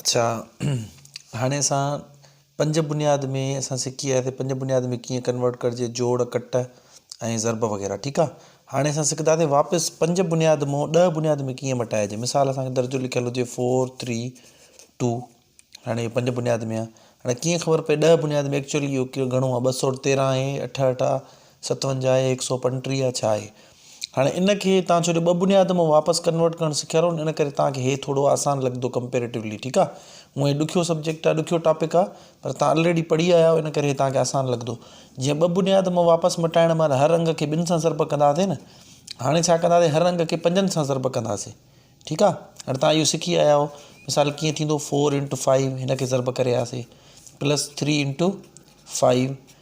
اڇا هاڻي اسان پنج بنياد ۾ اسان سکي وياسي پنج بنياد ۾ ڪيئن ڪنورٽ ڪرجي جوڙ ڪٽ ۽ ضرب وغيره ٺيڪ آ هاڻي اسان سکنداسي واپس پنج بنياد مون ڏهه بنياد ۾ ڪيئن مٽائجي مثال اسان کي درجو لکيل هجي فور ٿري ٽو هاڻي پنج بنياد ۾ آ هاڻي ڪيئن خبر پئي ڏهه بنياد ۾ ايڪچوئلي اهو ڪيو گهڻو آ ٻه سؤ تيرهن آهي اٺهٺ آ ستونجاهه ۽ هڪ سؤ پنٽيهه ڇا آهي هاڻي ان کي تان ڇو جو ٻه بنياد مون واپس ڪنورٽ ڪرڻ سکيا رون ان ڪري تان کي هي ٿورو آسان لڳندو ڪمپيريٽولي ٺيڪ آهي هونء هي ڏکيو سبجيڪٽ آهي ڏکيو ٽاپڪ آهي پر تان الريڊي پڙهي آيا آهيو ان ڪري هي تان کي آسان لڳندو جيئن ٻه بنياد مون واپس مٽائڻ مهل هر انگ کي ٻن سان ضرب ڪنداسي نه هاڻي ڇا ڪنداسي هر انگ کي پنجن سان ضرب ڪنداسي ٺيڪ آهي هاڻي تان اهو سکي آيا آهيو مثال ڪيئن ٿيندو فور انٽو فائيو هن کي ضرب ڪري آياسي پلس ٿري انٽو فائيو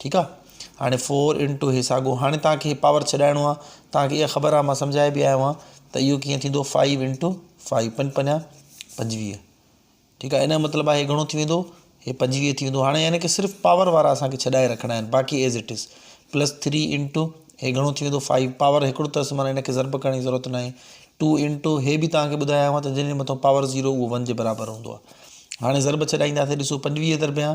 ٺيڪ آ هاڻي فور ان ٽو هي ساڳو هاڻي توهان کي پاور ڇڏائڻو آ توهان کي اها خبر آ مان سمجهائي به آيو آهيان ته اهو ڪيئن ٿيندو فائيو ان ٽو فائيو پنج پنجا پنجويهه ٺيڪ آ ان جو مطلب آهي هي گهڻو ٿي ويندو هي پنجويهه ٿي ويندو هاڻي يعني ڪي صرف پاور وارا اسان کي ڇڏائي رکڻا آهن باقي as it is plus three into هي گهڻو ٿي ويندو فائيو پاور هڪڙو اٿس معنيٰ ان کي ضرب ڪرڻ جي ضرورت ناهي ٽو ان ٽو هي به توهان کي ٻڌايو آهي ته جنهن جي مٿان پاور زيرو اهو ون جي برابر هوندو آ هاڻي ضرب ڇڏائينداسي ڏسو پنجويهه ضربيان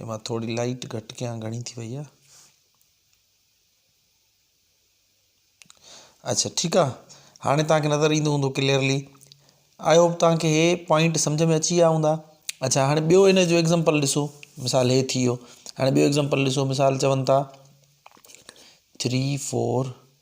ايما ٿوري لائٽ گهٽ ڪيان گهڻي ٿي وئي آ اڇا ٺيڪ آ هاڻي توهان کي نظر ايندو هوندو ڪليئرلي آئي هوپ توهان کي هي پوائنٽ سمجهه ۾ اچي ويا هوندا اڇا هاڻي ٻيو هن جو ايگزامپل ڏسو مثال هي ٿي ويو هاڻي ٻيو ايگزامپل ڏسو مثال چون ٿا ٿري فور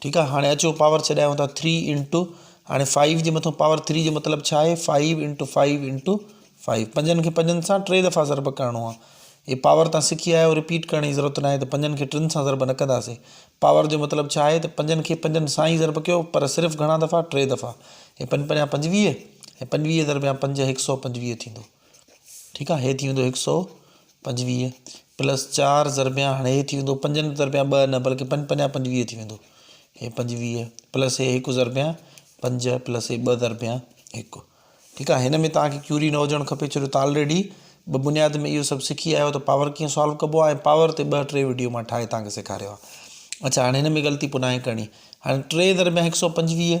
ٺيڪ آ هاڻي اچو پاور ڇڏايو ٿا ٿري انٽو هاڻي فائيو جي مٿو پاور ٿري جو مطلب ڇا آهي five into five into five پنجن کي پنجن سان ٽي دفعا ضرب ڪرڻو آ هي پاور تان سکي آيو رپيٽ ڪرڻ جي ضرورت ناهي ته پنجن کي ٽن سان ضرب نه ڪنداسي پاور جو مطلب ڇا آهي ته پنجن کي پنجن سان ئي ضرب ڪيو پر صرف گهڻا دفعا ٽي دفعا هي پنج پنجا پنجويهه هي پنجويهه ضرب يا پنج هڪ سؤ پنجويهه ٿيندو ٺيڪ آ هي ٿي ويندو هڪ سؤ پنجويهه پلس چار ضربيان هاڻي هي ٿي ويندو پنجن ضربيان ٻه نه بلڪه پنج پنجا پنجويهه ٿي ويندو هي پنجويهه پلس هي هڪ ضربيان پنج پلس هي ٻه ضربيان هڪ ٺيڪ آ هن ۾ توهانکي ڪيوري نه هجڻ کپي ڇو جو تان آلريڊي ٻه بنياد ۾ اهو سڀ سکي آيا آهيو ته پاور ڪيئن سالو ڪبو آهي پاور تي ٻه ٽي ويڊيو مان ٺاهي توهانکي سيکاريو آهي اڇا هاڻي هن ۾ غلطي پناهي ڪرڻي هاڻي ٽي ضربيان هڪ سؤ پنجويهه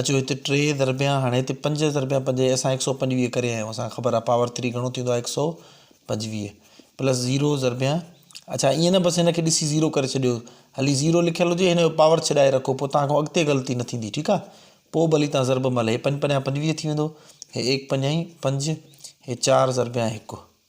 اچو هت ٽي ضربيان هاڻي هت پنج ضربيان پنج هي اسان هڪ سؤ پنجويهه ڪري آيا آهيون اسان کي خبر آهي پاور ٿري گهڻو ٿيندو آهي هڪ سؤ پنجويهه پلس زيرو ضربيان اچا ائين نه بس هن کي ڏسي زيرو ڪري ڇڏيو هلي زيرو لکيل هجي هن جو پاور ڇڏائي رکو پوء تان کان اڳتي غلطي نه ٿيندي ٺيڪ آهي پوء ڀلي تان ضرب مل هي پنج پنجاهه پنجويهه ٿي ويندو هي ايڪ پنجاهي پنج هي چار ضربيان هڪ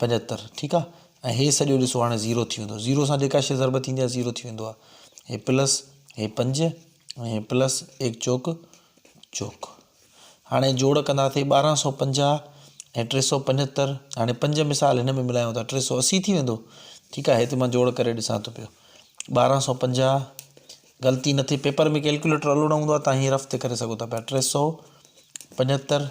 پنجهتر ٺيڪ آ ۽ هي سڄو ڏسو هاڻي زيرو ٿي ويندو زيرو سان جيڪا شي ضرب ٿيندي آ زيرو ٿي ويندو آ هي پلس هي پنج ۽ هي پلس ايڪ چوڪ چوڪ هاڻي جوڙ ڪنداسي ٻارهن سو پنجاهه ۽ ٽي سو پنجتر هاڻي پنج مثال هن ۾ ملايون ٿا ٽي سو اسي ٿي ويندو ٺيڪ آ هتي مان جوڙ ڪري ڏسان ٿو پيو ٻارهن سو پنجاهه غلطي نٿي پيپر ۾ ڪيلڪوليٽر الو نه هوندو آ تان هي رف تي ڪري سگهو ٿا پيا ٽي سو پنجتر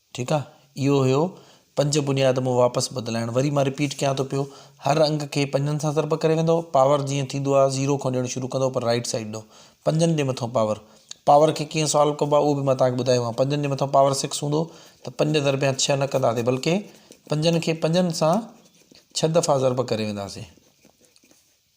ٺيڪ آ اهو هيو پنج بنياد مون واپس بدلائڻ وري مان رپيٽ ڪيان ٿو پيو هر انگ کي پنجن سان ضرب ڪري ويندؤ پاور جيئن ٿيندو آ زيرو کان ڏيڻ شروع ڪندؤ پر رائيٽ سائيڊ ڏئو پنجن جي مٿئون پاور پاور کي ڪيئن سالو ڪبو آ اهو به مان توهان کي ٻڌايو آ پنجن جي مٿئون پاور سڪس هوندو ته پنج ضربيان ڇهه نه ڪنداسي بلڪه پنجن کي پنجن سان ڇهه دفعا ضرب ڪري وينداسي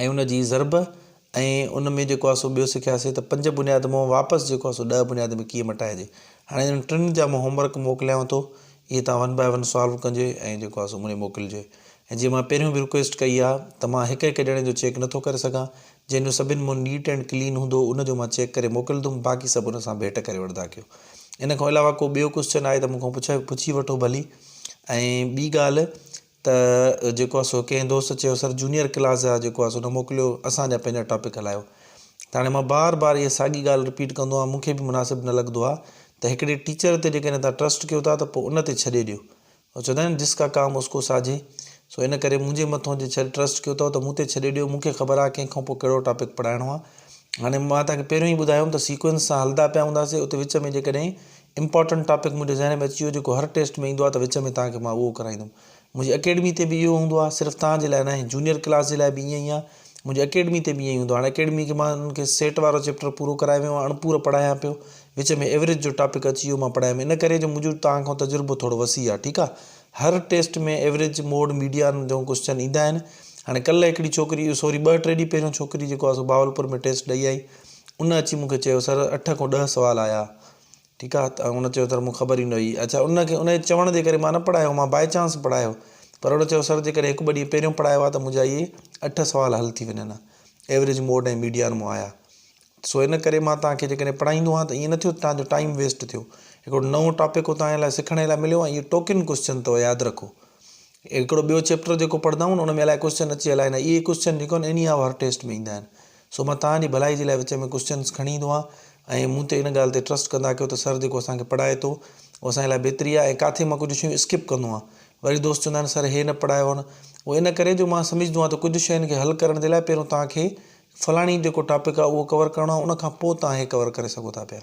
۽ ان جي ضرب ۽ ان ۾ جيڪو آسو ٻيو سکياسي ته پنج بنياد مون واپس جيڪو آسو ڏهه بنياد ۾ ڪيئن مٽائجي هاڻي انهن ٽن جا مون هوم ورڪ موڪليانو ٿو اهي تان ون بائي ون سالو ڪنجي ۽ جيڪو آسو مون موڪلجي ۽ جي مان پهريون به رڪويسٽ ڪئي آ ته مان هڪ هڪ ڄڻي جو چيڪ نٿو ڪري سگهان جنهن جو سڀن مون نيٽ اينڊ ڪلين هوندو ان جو مان چيڪ ڪري موڪلدم باقي سڀ ان سان ڀيٽ ڪري وٺدا ڪيو ان کان علاوه ڪو ٻيو ڪوسچن آهي ته مون کان پڇي وٺو ڀلي ۽ ٻي ڳالهه ته جيڪو آ سو ڪنهن دوست چيو سر جونيئر ڪلاس جا جيڪو آ سو نه موڪليو اسان جا پنهنجا ٽاپڪ هلايو ته هاڻي مان بار بار اها ساڳي ڳالهه رپيٽ ڪندو آهيان مونکي به مناسب نه لڳندو آهي ته هڪڙي ٽيچر تي جيڪڏهن تهان ٽرسٽ ڪيو ٿا ته پوء ان تي ڇڏي ڏيو او چوندا آهن جس ڪا ڪام اس ڪو ساجهي سو ان ڪري منهنجي مٿو جي ڇڏ ٽرسٽ ڪيو اٿو ته مون تي ڇڏي ڏيو مونکي خبر آهي ڪنهن کان پوء ڪهڙو ٽاپڪ پڙهائڻو آهي هاڻي مان تهان کي پهريون ئي ٻڌايوم ته سيڪوئنس سان هلدا پيا هونداسي اتي وچ ۾ جيڪڏهن امپارٽنٽ ٽاپڪ منهنجي ذهن ۾ اچي ويو جيڪو هر ٽيسٽ ۾ ايندو آهي ته وچ ۾ توهان کي مان اهو ڪرائيندم منهنجي اڪيڊمي تي به اهو هوندو آهي صرف توهان جي لاء ناهي جونيئر ڪلاس جي لاء به ائين ئي آهي منهنجي اڪيڊمي تي به ائين ئي هوندو آهي هاڻي اڪيڊمي کي مان انهن کي سيٽ وارو چيپٽر پورو ڪرائي ويو آهيان اڻپورو پڙهايان پيو وچ ۾ ايوريج جو ٽاپڪ اچي ويو مان پڙهايم ان ڪري جو منهنجو توهان کان تجربو ٿورو وسيع آهي ٺيڪ آهي هر ٽيسٽ ۾ ايوريج موڊ ميڊيان جو ڪوسچن ايندا آهن هاڻي ڪلهه هڪڙي ڇوڪري اهو سوري ٻه ٽي ڏينهن پهريون ڇوڪري جيڪو آهي سو بهاولپور ۾ ٽيسٽ ڏئي آئي ان اچي مون کي چيو سر اٺ کان ڏهه سوال آيا ٺيڪ آ ته هن چيو سر مون خبر ئي نه هئي. اڇا ان کي انهيء چوڻ جي ڪري مان نه پڙهايو هو مان باء چانس پڙهايو. پروڙ چيو سر جيڪڏهن هڪ ٻه ڏينهن پهريون پڙهايو ها ته منهنجا اهي اٺ سوال حل ٿي ونيا ها. ايوريج موڊ ۽ ميڊيان مون آيا. سو ان ڪري مان توهان کي جيڪڏهن پڙهائيندو هان ته ائين نه ٿيو ته توهان جو ٽائيم ويسٽ ٿيو. هڪڙو نئون ٽاپڪ هو توهان جي لاء سکڻ جي لاء مليو ۽ اهي ٽوڪن ڪوسچن اٿو ياد رکو. هڪڙو ٻيو چيپٽر جيڪو پڙهندائون ان ۾ الائي ڪوشچن اچي الائي نه اهي ڪوشچن جيڪو آهن اني آء هر ٽيسٽ ۾ ايندا آهن سو مان توهان جي ڀلائي جي لاء وچ ۾ ڪوشچنس کڻي ايندو آهيان ۽ مون تي ان ڳالهه تي ٽرسٽ ڪندا ڪيو ته سر جيڪو اسان کي پڙهائي ٿو اهو اسان جي لاء بهتري آهي ۽ ڪاٿي مان ڪجهه شيون اسڪپ ڪندو آهيان وري دوست چوندا آهن سر هي نه پڙهايو هن اهو ان ڪري جو مان سمجهندو آهيان ته ڪجهه شين کي حل ڪرڻ جي لاء پهريون توهان کي فلاڻي جيڪو ٽاپڪ آهي اهو ڪور ڪرڻو آهي ان کان پوء توهان هي ڪور ڪري سگهو ٿا پيا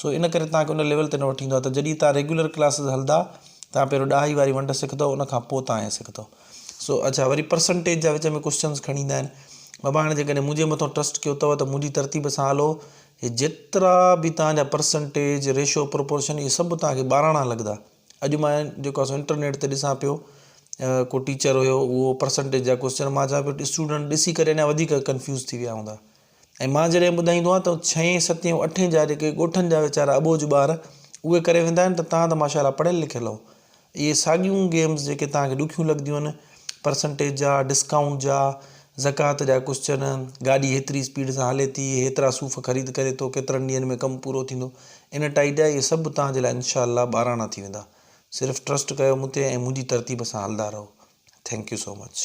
سو ان ڪري توهان کي ان ليول تي نه وٺي ايندو آهي ته جڏهن توهان ريگيولر ڪلاسز هلندا توهان پهريون ڏهائي واري ونڊ سکندو ان کان پوء توهان هي سکندو سو اڇا وري پرسنٽيج جا وچ ۾ ڪوشچنز کڻي ايندا آهن بابا هاڻي جيڪڏهن منهنجي مٿو ٽرسٽ ڪيو اٿو ته منهنجي ترتيب سان هلو هي جيترا به توهان جا پرسنٽيج ريشو پروپورشن اهي سڀ توهان کي ٻاراڻا لڳندا اڄ مان جيڪو اسان انٽرنيٽ تي ڏسان پيو ڪو ٽيچر هيو اهو پرسنٽيج جا ڪوشچن مان چوان پيو اسٽوڊنٽ ڏسي ڪري اڃا وڌيڪ ڪنفيوز ٿي ويا هوندا ۽ مان جڏهن ٻڌائيندو آهيان ته ڇهين ستين اٺين جا جيڪي ڳوٺن جا ويچارا اٻوجهه ٻار اهي ڪري ويندا آهن ته توهان ته ماشاءالله پڙهيل لکيل اهو اهي ساڳيون گيمز جيڪي توهان کي ڏکيون لڳنديون آهن پرسنٽيج جا ڊسڪائونٽ جا زڪوات جا ڪوشچن گاڏي هيتري اسپيڊ سان هلي ٿي هيترا صوف خريد ڪري ٿو ڪيترن ڏينهن ۾ ڪم پورو ٿيندو ان ٽائي جا اهي سڀ توهان جي لاء انشاء الله ٻاراڻا ٿي ويندا صرف ٽرسٽ ڪيو مون تي ۽ منهنجي ترتيب سان هلدا رهو ٿينڪ يو سو مچ